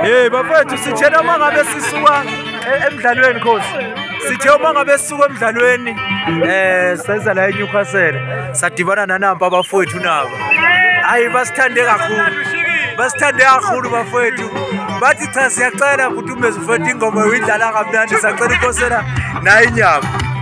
Hey bafethu sithena uma ngabe sisuka e-, emdlalweni khosi. Sithe uma ngabe sisuka emdlalweni eh senza la eNewcastle sadibana nanamba abafowethu nabo. Hayi basithande kakhulu. Basithande kakhulu bafowethu. Bathi cha siyacela futhi umezufethu ingoma uyidlala kamnandi sacela inkosela nayi inyama.